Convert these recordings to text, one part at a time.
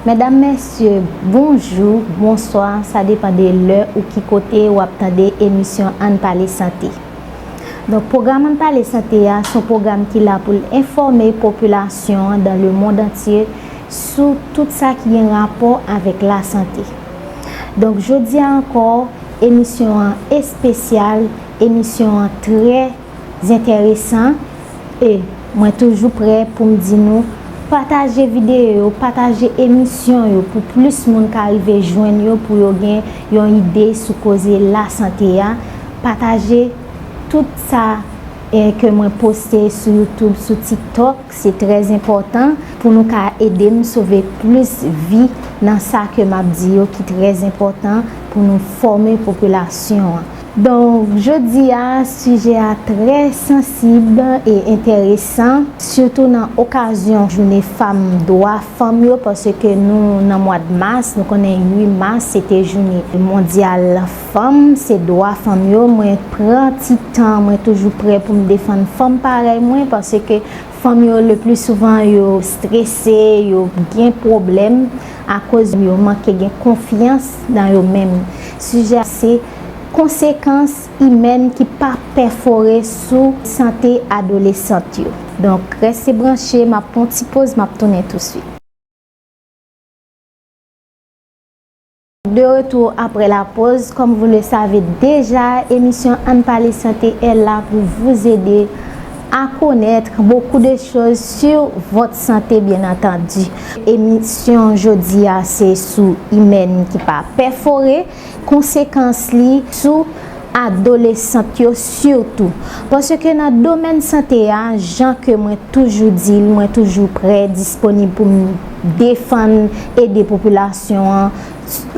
Medam mesye bonjou bonswa sa depan de lè ou ki kote ou ap tande emisyon ann pale sante donk pwogram ann pale sante a son pwogram ki la pou l enfòme popilasyon dan le mond antye sou tout sa ki gen rapò avèk lasante. Donk jodi a ankò emisyon an espesyal, emisyon an trè zentèresan e mwen toujou prè pou m di nou pataje videyo yo, pataje emisyon yo pou plis moun ka rive jwenn yo pou yo gen yon ide sou koze lasante a, pataje tout sa ke mwen poste sou youtube, sou tiktok. Se trè enpòtan pou nou ka ede m sove plis vi nan sa ke m ap di yo ki trè enpòtan pou nou fòme popilasyon an. Donk jodi a sijè a trè sansib e enteresan sitou nan okazyon joune fanm dwa fanm yo paske nou nan mwad mas nou konnen 8 mas se te joune mondyal Fanm se dwa fanm yo mwen pran ti tan mwen toujou prè poum defann fanm parèy mwen paske fanm yo le pli souvan yo strese yo gen pwoblèm akoz yo manke gen konfyans nan yo menm sijè a se konsekans imèn ki pa pèfore sou sante adolesant yo donk rèse branche map pran yon ti poz map tounen touswit. De retour après la pause, comme vous le savez deja emisyon ann pale sante est la pour vous aider à connaitre beaucoup de choses sur votre santé bien entendu. Emisyon jodi a se sou imèn ki pa pèfore, konsekans li sou. adolesant yo sitou. Paske nan domèn sante a, jan ke mwen toujou di l, mwen toujou prè, disponib pou m defann, ede popilasyon an,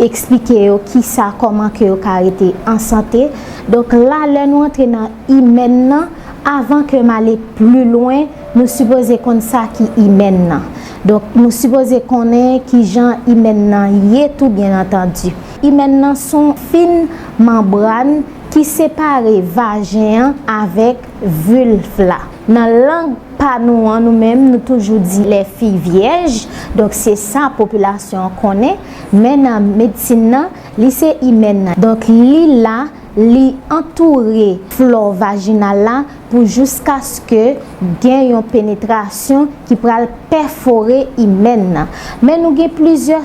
eksplike yo kisa, kòman ke yo ka rete an sante. Donk la, lè nou antre nan imèn nan, avan ke m ale pli lwen, nou sipoze konn sa ki imèn nan. Donk nou sipoze konnen kijan imèn nan ye tou byen antandi. Imèn nan son fin manbràn ki separe vajen an avèk vilf la. Nan lang pa nou an nou menm nou toujou di lè fi vyèj, donk se sa popilasyon an konnen, men nan medsin nan li se imèn nan. Donk li la, li antoure flò vajinal la pou jouskaske gen yon penetrasyon ki pral pèfore imèn nan. Men nou gen plizyè.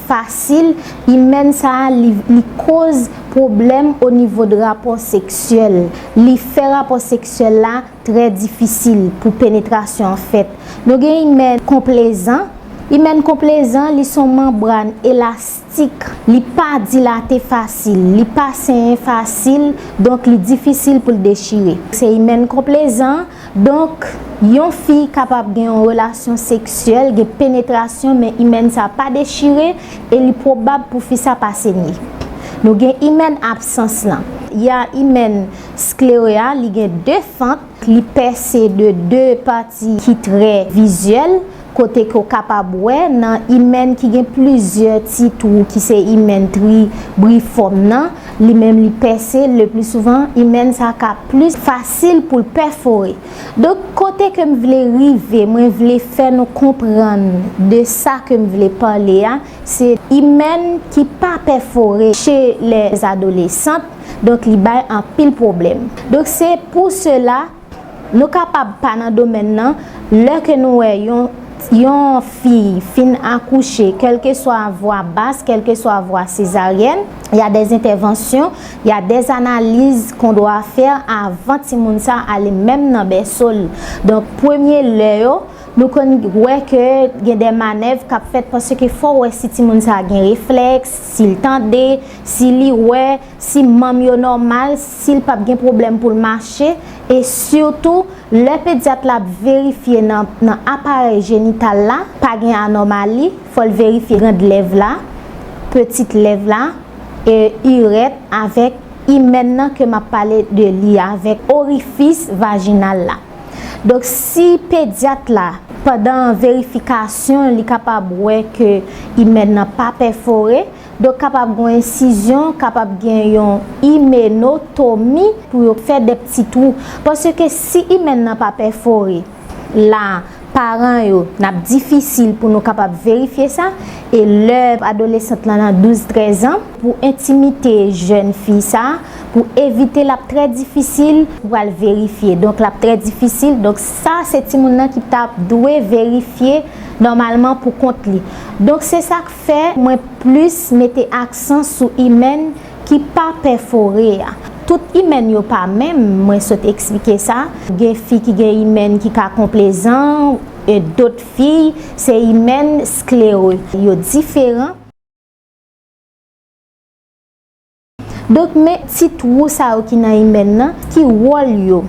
fasil, imèn sa a li koz pwoblèm o nivo de rapò seksyèl, li fè rapò seksyèl la trè difisil pou penetrasyon an fèt. Nou gen imèn konplezan, imèn konplezan li son manbràn elastik, li pa dilate fasil, li pa senyen fasil, donk li difisil pou l dechire. Se imèn konplezan. Donk, yon fi kapab gen yon relasyon seksyèl, gen penetrasyon men imèn sa pa dechire e li pwobab pou fi sa pa senye. Nou gen imèn absans lan. Y a imèn sklere a, li gen 2 fant, li pèse de 2 pati ki trè vizyèl. kote ke w kapab wè nan imèn ki gen plizyè ti twou ki se imèn tri brifòm nan, li menm li pèse, le pli souvan imèn sa ka plis fasil pou l pèfore. Donk kote ke m vle rive, mwen vle fè nou konprann de sa ke m vle pale a, se imèn ki pa pèfore che lè adolesant, donk li bay anpil pwoblèm. Donk se pou sela Nou kapab pa nan domèn nan, lè ke nou wè yon yon fiy fin akouche, kèlkeswa vwa bas, kèlkeswa vwa sezaryèn, y a des entèvansyon, y a des analiz qu'on doit faire avan timoun sa ale menm nan bèso l. Donk premye lè yo, nou konn wè ke gen dè manèv k'ap fèt paske fò wè si timoun sa gen reflèks, si l tande, si li wè. si manm yo nòmal, si l pap gen pwoblèm pou l mache, e sitou lè pedyat la ap verifye nan aparèy jenital la, pa gen anòmali, fò l verifye grand lèv la, petit lèv la, e irèt avèk imèn nan ke m ap pale de li a avèk orifis vajinal la. Donk si pedyat la pandan verifikasyon li kapab wè ke imèn nan pa pèfore, Donk kapab gen yon ensizyon, kapab gen yon imeno tomi pou yo fè de pti twou. Paske si imèn nan pa pèfore, la paran yo nap difisil pou nou kapab verifye sa. E lè adolesant lan nan 12, 13 an, pou entimite jèn fi sa, pou evite lap trè difisil pou pral verifye. Donk lap trè difisil. Donk sa se timoun nan ki tap dwe verifye nòmalman pou kont li. Donk se sak. Fè mwen plis mete aksan sou imèn ki pa pèfore a. Tout imèn yo pa menm, mwen sot eksplike sa. Gen fi ki gen imèn ki ka konplezan, e dot fi se imèn sklere. Yo diferan. Donk men ti twou sa yo ki nan imèn nan ki wòl yo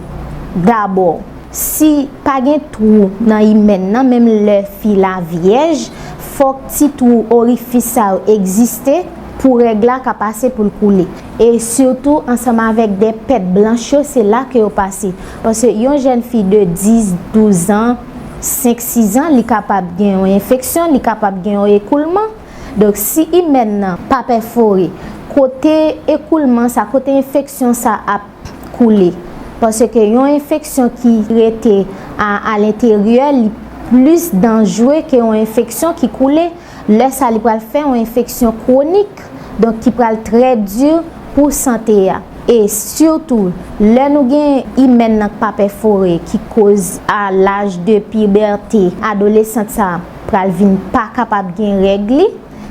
dabò si pa gen twou nan imèn nan menm lè fi la vyèj fòk ti twou orifis sa yo egziste pou règ la ka pase poul koule e sitou ansanm avèk de pèt blanch yo se la ke yo pase paske yon jèn fi de 10 12 an 5 6 an li kapab gen yon enfeksyon li kapab gen yon ekoulman. Donk si imèn nan pa pèfore kote ekoulman sa, kote enfeksyon sa ap koule. Paske yon enfeksyon ki rete a lenteryè li plis danjre ke yon enfeksyon ki koule. Lè sa li pral fè yon enfeksyon kwonik, donk ki pral trè di pou sante a. E sitou lè nou gen imèn nan k pa pèfore ki koz a laj de pibète, adolesant sa. pral vin pa kapab gen règ li,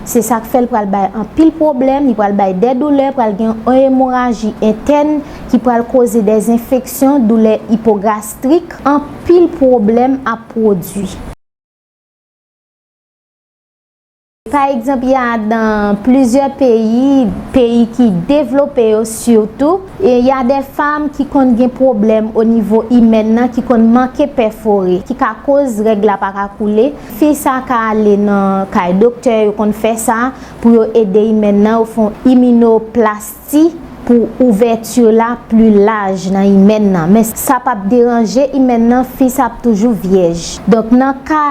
se sak fèl pral bay anpil pwoblèm, li pral bay dè doulè, pral gen yon emoraji entèn ki pral koze dè zenfeksyon, doulè ipogastrik, anpil pwoblèm ap pwodwi. Pa egzanp ya dan plizyè peyi, peyi ki devlope yo sitou. E ya dè fam ki konn gen pwoblèm o nivo imèn nan ki konn manke pèfore ki ka koz règ la pa ka koule, fi sa ka ale nan kay doktè yo konn fè sa pou yo ede imèn nan yo fon imino plasti pou ouvèti la pli laj nan imèn nan men sa pap deranje imèn nan fi sa ap toujou vyèj donk nan ka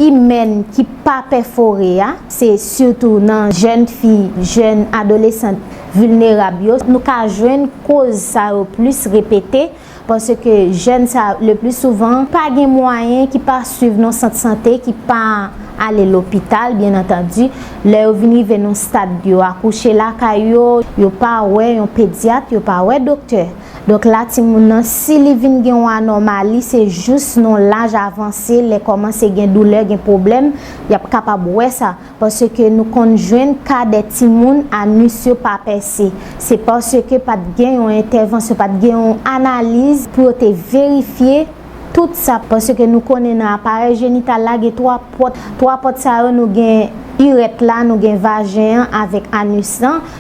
imèn ki pa pèfore a, se sitou nan jèn fi, jèn adolesant vilnerab yo nou ka jwenn koz sa yo plis repete paske jèn sa le pli souvan pa gen mwayen ki pa swiv nan sant sante ki pa ale lopital byen antandi lè yo vin rive nan stad yo akouche lakay yo, yo pa wè yon pedyat, yo pa wè doktè. Donk la timoun nan si li vin gen yon anòmali se jous nan laj avanse lè kòmanse gen doulè gen pwoblèm y ap kapab wè sa paske nou konn jwenn ka dè timoun anus yo pa pèse se paske pa t gen yon entèvansyon pa t gen yon analiz pou yo te verifye tout sa paske nou konnen nan aparèy jenital la gen 3 pòt 3 pòt sa yo nou gen irèt la nou gen vajen an avèk anus lan.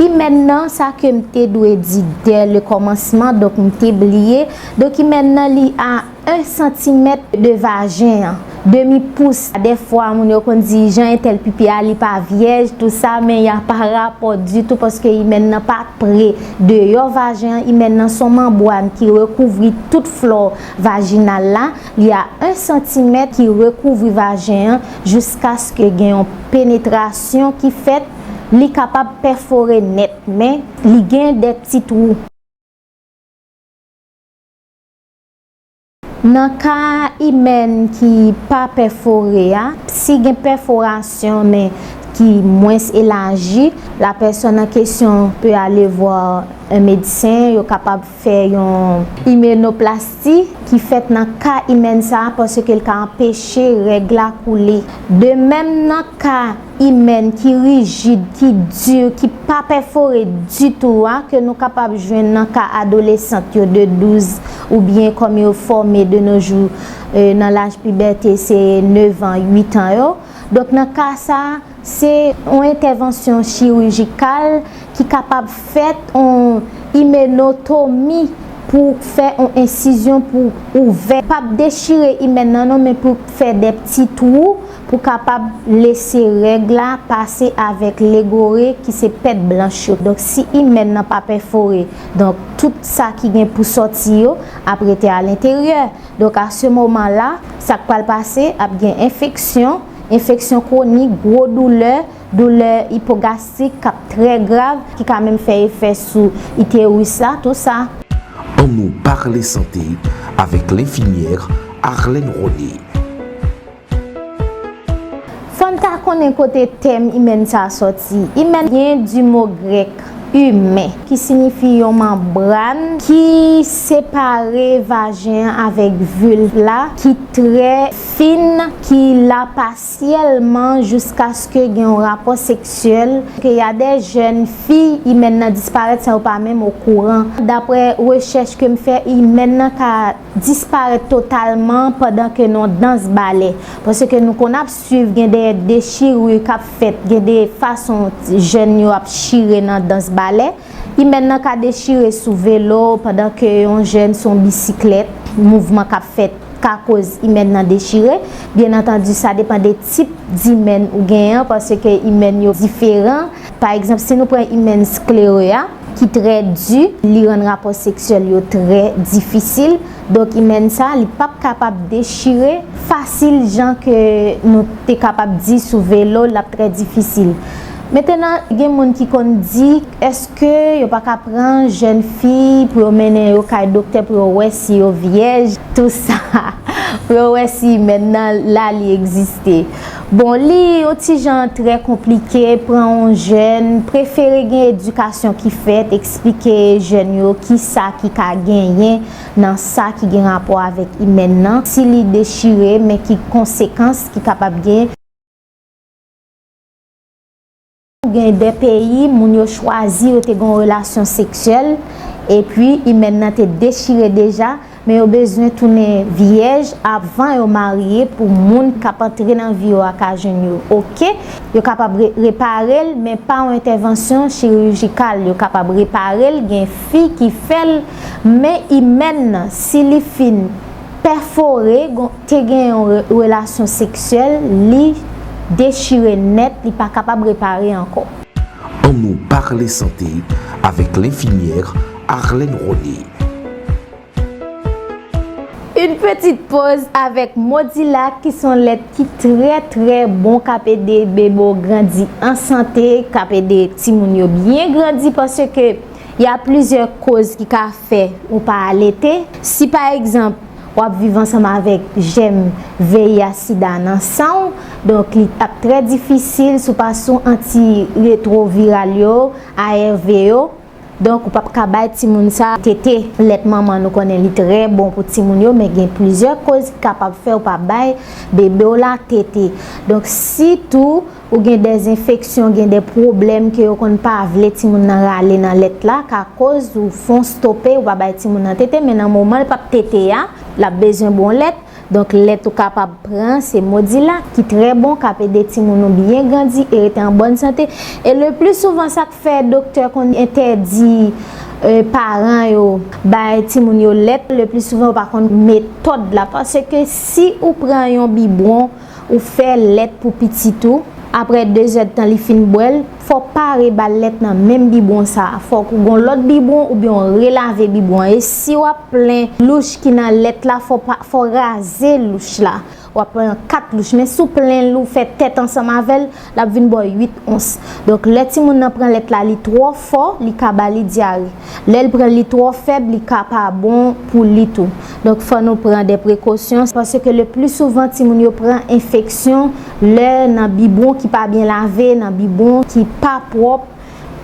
Imèn nan sa ke m te dwe di dè le kòmansman donk m te bliye, donk imèn nan li a 1 santimèt de vajen an, demi pous, dèfwa moun yo konn di jan entèl pipi a li pa vyèj tou sa men y a pa rapò ditou paske imèn nan pa pre deyò vajen an, imèn nan s on manbwàn ki rekouvri tout flò vajinal la. Li a 1 santimèt ki rekouvri vajen an jiskaske gen yon penetrasyon ki fèt, li kapab pèfore nèt men li gen de ti twou. Nan ka imèn ki pa pèfore a, si gen pèforasyon men ki mwens elaji, la pèsòn an kesyon pe alevwa 1 medsen, yo kapab. Fè yon imenoplasti ki fèt nan ka imèn sa a paske l ka anpeche règ la koule. De mèm nan ka imèn ki rijid, ki di, ki pa pèfore ditou a ke nou kapab jwenn nan ka adolesant yo de 12 oubyen kòm yo fòme de no jou nan laj pibète se 9 an, 8 an yo. Donk nan ka sa a. Se yon entèvansyon chirijikal ki kapab fèt, yon imenotomi pou fè yon ensizyon pou ouvè, pa p dechire imèn nan non men pou fè de pti twou pou kapab lese règ la pase avèk legore ki se pèt blanch yo. Donk si imèn nan pa pèfore donk tout sa ki gen pou sòti yo ap rete alenteryè. Donk a se moman la sa k pral pase ap gen enfeksyon. Enfeksyon kwonik, gwo doulè, doulè ipogastrik k ap trè grav, ki ka menm fè efè sou iteris la, tou sa. An nou parle sante avèk lenfimyè Arlène Rony. Fò n ta konnen kote tèm imèn sa a sòti. Imèn vyen di mo grèk humain ki sinifi yon manbràn ki separe vajen an avèk vulve la ki trè. Fin, ki la pasyèlman jouskaske gen yon rapò seksyèl, ke y a dè jèn fi imèn nan disparèt san yo pa menm okouran. Daprè rechèch ke m fè, imèn nan ka disparèt totalman pandan ke nan dans balè. Paske nou konn ap swiv gen de dechirure k ap fèt, gen de fason jèn yo ap chire nan dans balè. Imèn nan ka dechire sou velo pandan ke yon jèn sou yon bisiklèt, mouvman k ap fèt ka koz imèn nan dechire. Byen antandi sa depan de tip d'imèn ou genyen an paske imèn yo diferan. Pa egzanp si nou pran imèn sklere a ki trè di, li rann rapò seksyèl yo trè difisil. Donk imèn sa li p ap kapab dechire fasil jan ke nou te kapab di sou velo l ap trè difisil. Mentenan gen moun ki konn di eske yo pa ka pran jèn fi pou yo mennen yo kay doktè pou yo wè si yo vyèj tou sa pou yo wè si imèn nan la li egziste. Bon li yon ti jan trè konplike pran yon jèn, prefere gen edikasyon ki fèt eksplike jèn yo ki sa ki ka genyen nan sa ki gen rapò avèk imèn nan si li dechire men ki konsekans ki kapab gen. Gen de peyi, moun yo chwazi yo te gen yon relasyon seksyèl, epi imèn nan te dechire deja, men yo bezwen tounen vyèj avan yo marye pou moun k ap antre nan vi yo a ka jwenn yo oke. Yo kapab repare l, men pa yon entèvansyon chirijikal. Yo kapab repare l, gen fi ki fè l, men imèn nan, si li fin. pèfore gon te gen yon relasyon seksyèl li dechire nèt li pa kapab repare ankò. An nou parle sante avèk lenfimyère Arlène Rony. Yn petit poz avèk Modila ki son lèt ki trè trè bon kap ede bebe w grandi an sante kap ede timoun yo byen grandi paske Y a plizyè koz ki ka fè ou pa alete. Si pa egzanp, w ap viv ansanm avèk jèm VIH sida nan san w, donk li ap trè difisil si w pa sou anti retroviral yo, ARV yo, donk ou p ap ka bay timoun sa tete. Lèt manman nou konnen li trè bon pou timoun yo men gen plizyè koz ki kapab fè ou pa bay bebe w la tete. Donk sitou. Ou gen de enfeksyon, gen de pwoblèm ke yo konn pa vle timoun nan rale nan lèt la, ka koz ou fon stope, ou pa bay timoun nan tete, men nan moman l pap tete a, l ap bezwen bon lèt, donk lèt ou kapab pran se Modilak ki trè bon, k ap ede timoun ou byen grandi e rete an bòn sante, e le pli souvan sa k fè doktè konn entèdi paran yo bay timoun yo lèt, le pli souvan yo pa konn metòd la, pase ke si ou pran yon bibwon. Ou fè lèt pou pitit ou, aprè dezèdtan li fin bwè l, fò w pa reba l lèt nan menm bibwon sa a. Fòk ou gen yon lòt bibwon oubyen w relave bibwon an. E si w ap plen louch ki nan lèt la, fò w raze louch la. W ap pran 4 louch, men si w plen l ou fè tèt ansanm avè l, Lap vin bo 8 ons. Donk lè timoun nan pran lèt la li twò fò li ka ba li dyare. Lè l pran li twò fèb li ka pa bon pou li tou. Donk fò nou pran de prekosyon. Paske le pli souvan timoun yo pran enfeksyon lè nan bibwon ki pa byen lave, nan bibwon ki pa pwòp.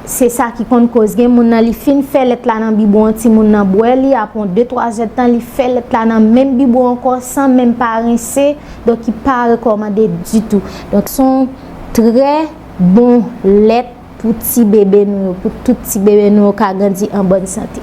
Se sa ki konn koz gen moun nan li fin fè lèt la nan bibo an ti moun nan bwè li apre yon 2 3 zèd tan li fè lèt la nan menm bibo ankò san menm pa rense donk ki pa rekòmande ditou donk son trè bon lèt pou ti bebe nou yo pou tout ti bebe nou yo ka grandi an bòn sante.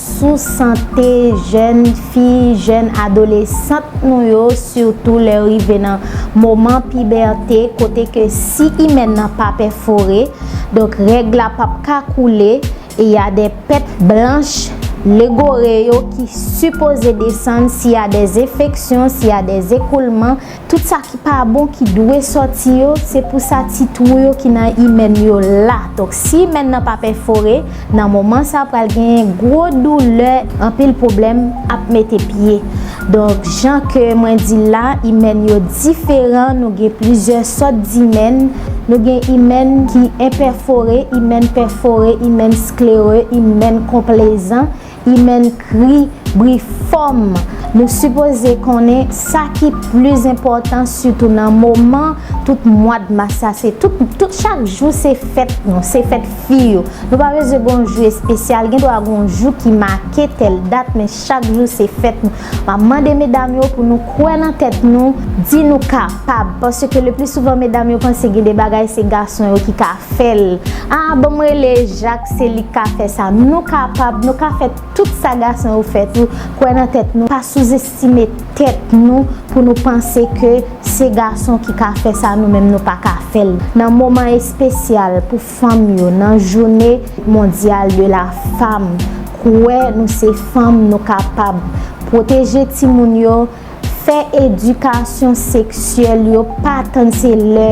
sou sante jèn fi, jèn adolesant nou yo sitou lè yo rive nan moman pibète kote ke si imèn nan pa pèfore donk règ la p ap ka koule e y a dè pèt blanch legore yo ki sipoze desann si y a dè enfeksyon, si y a dè ekoulman. Tout sa ki pa bon ki dwe sòti yo, se pou sa ti twou yo ki nan imèn yo la. Donk si imèn nan pa pèfore, nan moman sa pral genyen gwo doulè, anpil pwoblèm ap mete pye. Donk jan ke mwen di l la, imèn yo diferan, nou gen plizyè sòt dimèn, nou gen imèn ki enpèfore, imèn pèfore, imèn sklere, imèn konplezan. Imèn kri, bri fòm! Nou sipoze konnen sa ki pli enpòtan sitou nan moman tout mwad mas sa se tout tout chak jou se fèt nou se fèt fi yo nou pa bezwen gon jou espesyal gen dwa gon jou ki make tèl dat men chak jou se fèt nou. Map mande medam yo pou nou kwè nan tèt nou, di nou kapab, paske le pli souvan medam yo panse gen de bagay se gason yo ki ka fèl, aa banm rele Jak se lik ka fè sa, nou kapab, nou ka fè tout sa gason yo fè tou, kwè nan tèt nou, pa sou zestime tèt nou pou nou panse ke se gason ki ka fè sa nou menm nou paka fèl nan moman espesyal pou. Fanm yo nan joune mondyal de la fam kwè nou se fanm nou kapab pwoteje timoun yo fè edikasyon seksyèl yo pa tann se lè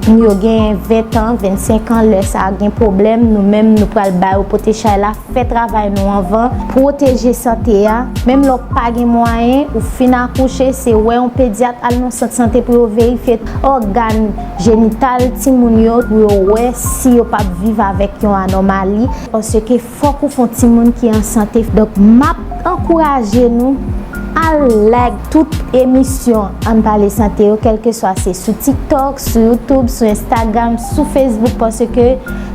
yo gen 20 tan 25 an lè sa gen pwoblèm nou menm nou pral ba yo pote chay la fè travay nou anvan pwoteje sante a menm lè w pa gen mwayen ou fin akouche se wè yon pedyat al nan sant sante pou yo verifye ògàn jenital timoun yo pou yo wè si yo pap viv avèk yon anòmali paske fòk ou fon timoun ki an sante donk map ankouraje nou al like tout emisyon ann pale sante yo kèlkeswa se sou tiktok sou youtube sou instagram sou facebook paske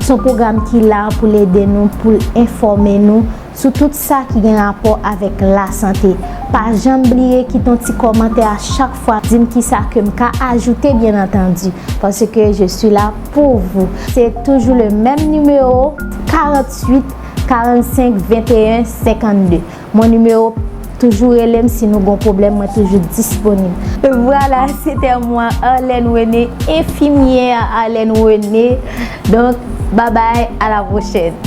son pwogram ki la poul ede nou poul enfòme nou sou tout sa ki gen rapò avèk lasante. Pa janm bliye kite yon ti kòmantè a chak fwa, di m kisa ke m ka ajoute byen antandi, paske je suis là pour vous. Se toujou le menm nimewo, 48 45 21 52. Mon numéro, toujou rele m si nou gon pwoblèm, mwen toujou disponib. Vwala, se tè mwen, Arlène René, enfimyè Arlène René. Donk, babay, a la pwochèn.